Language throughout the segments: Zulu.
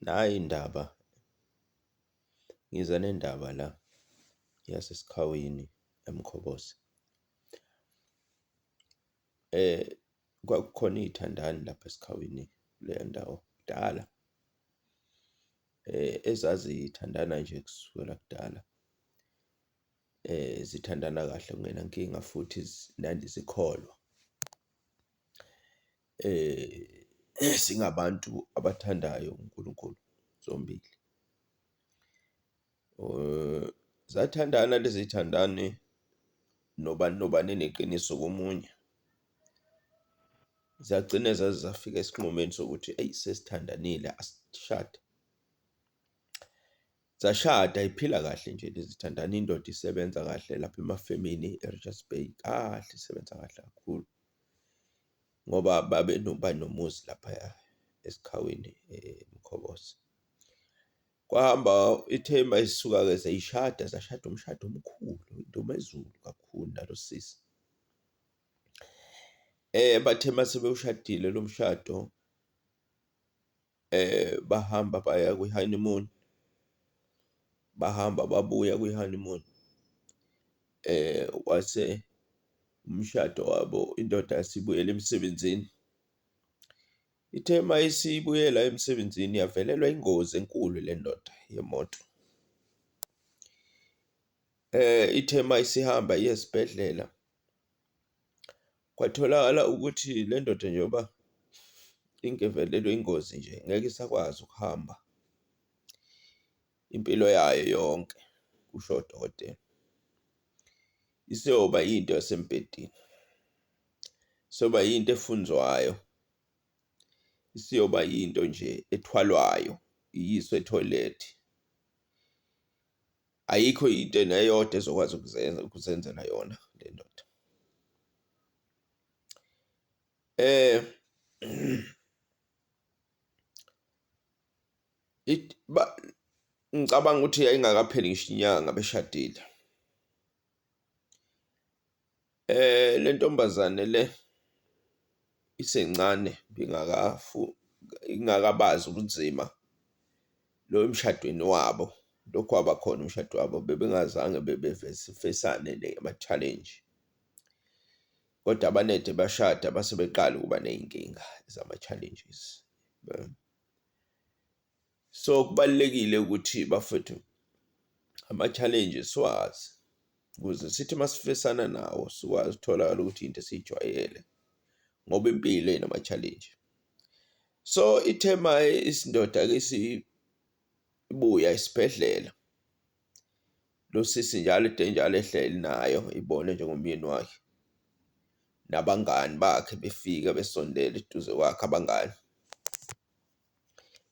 Nayi indaba, ngize nendaba la yaseSikhawini eMkhobozi. Kwakukhona iy'thandani lapho eSikhawini kuleyo ndawo kudala, ezazithandana nje kusukela kudala. zithandana kahle kungenankinga futhi nandi zikholwa. Singabantu abathandayo uNkulunkulu zombili. Zathandana lezi zithandani nobani nobani eneqiniso komunye, zagcine zaze zafika esinqumeni sokuthi eyi sesithandanile asishade. Zashada iphila kahle nje zithandana indoda isebenza kahle lapha emafemini eRichards Bay kahle isebenza kahle kakhulu ngoba babe banomuzi laphaya eSikhaweni eMkhobozi. Kwahamba ithemba isuka-ke seyishada zashada umshado omkhulu indumezulu kakhulu nalo sisi. Bathe uma sebewushadile lo mshado. Bahamba baya kwi-honeymoon, bahamba babuya kwi-honeymoon kwase umshado wabo, indoda yase ibuyela emsebenzini. Ithe uma isibuyela emsebenzini yavelelwa ingozi enkulu le ndoda yemoto, ithe uma isihamba iya esibhedlela. Kwatholakala ukuthi le ndoda njengoba ingevelelwe ingozi nje ngeke isakwazi ukuhamba impilo yayo yonke, kusho udokotela. Isiyoba yinto yasembhedeni, isiyoba yinto efunzwayo, isiyoba yinto nje ethwalwayo iyiswe ethoyilethi. ayikho into neyodwa ezokwazi ukuzenza, ukuzenzela yona le ndoda. Ngicabanga ukuthi yayingakapheli ngisho inyanga beshadile. Le ntombazane le isencane ingakabazi ubunzima lo emshadweni wabo, lokhu kwabakhona umshado wabo bebengazange bebefesane namathalenji kodwa abanede bashada base beqala ukuba ney'nkinga zama-challenges . so kubalekile ukuthi bafethu ama challenges siwazi ukuze sithi masifesana nawo sikwazi utholakala ukuthi into esijwayele ngoba impilo inama challenge so ithema isindoda ke sibuya isibhedlela lo sisi njalo ide njalo ehleli nayo ibone njengomyeni wakhe nabangani bakhe befika besondela eduze kwakhe abangani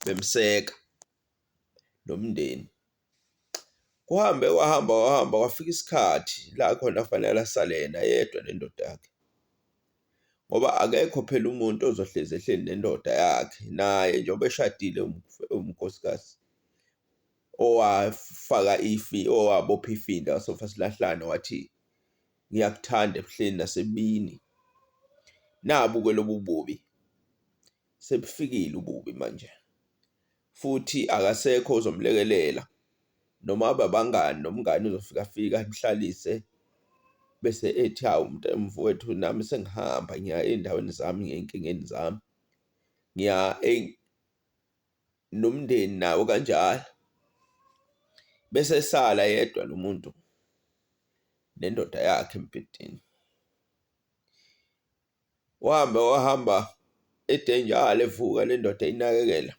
bemseka nomndeni. Kuhambe kwahamba kwahamba kwafika isikhathi la khona kufanele asale yena yedwa nendoda yakhe, ngoba akekho phela umuntu ozohlezi ehleli nendoda yakhe naye njengoba eshadile unkosikazi owafaka ifi, owabopha ifindo wasofa silahlane wathi ngiyakuthanda ebuhleni nasebubini. Nabu-ke lobu bubi. sebufikile ububi manje futhi akasekho ozomlekelela noma abe abangani nomngani uzofika fika amhlalise bese ethi hawu mfowethu nami sengihamba ngiya ey'ndaweni zami ngiya ey'nkingeni zami, ngiya nomndeni nawo kanjalo. Bese esala yedwa lo muntu nendoda yakhe embhedeni. Wahambe wahamba edenjala evuka nendoda inakekela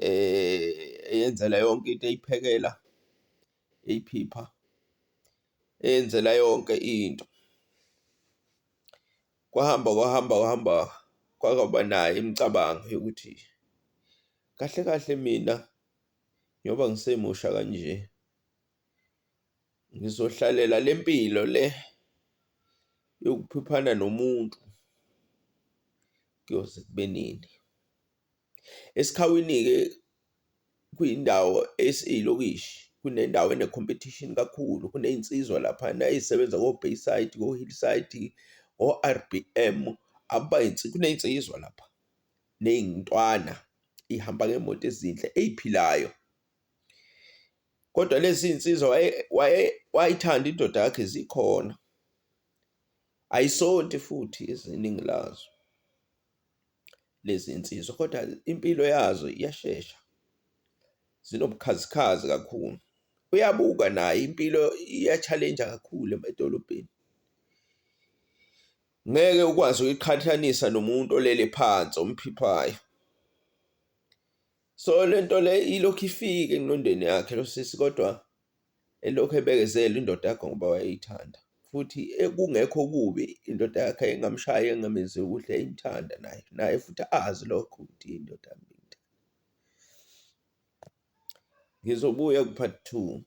eh eyenzela yonke into eyiphekela eyiphipha eyenzela yonke into kwahamba kwahamba kwahamba kwakaba naye imicabango yokuthi kahle kahle mina njengoba ngisemusha kanje ngizohlalela le mpilo le yokuphiphana nomuntu kuyoze kube nini. Esikhawini-ke kuyindawo esiyilokishi kunendawo ene-competition kakhulu, kuneyinsizwa laphana eyisebenza ko-Bayside, ko-Hillside, o-R_B_M kuneyinsizwa lapha neyintwana ihamba ngeyimoto ezinhle eyiphilayo. Kodwa lezi iy'nsizwa wayeyithanda indoda yakhe zikhona, ayisonti futhi iningi lazo lezi nsizwa kodwa impilo yazo iyashesha, zinobukhazikhazi kakhulu. Uyabuka naye impilo iya-challenge-a kakhulu emadolobheni, ngeke ukwazi ukuyiqhathanisa nomuntu olele phansi omphiphayo. so lento le ilokhu ifike engqondweni yakhe lo sisi kodwa elokhu ebekezela indoda yakhe ngoba wayeyithanda futhi kungekho kubi indoda yakhe engamshayi engamenzi kuhle imthanda naye naye futhi azi lokho ukuthi indoda yami ngizobuya ku-part two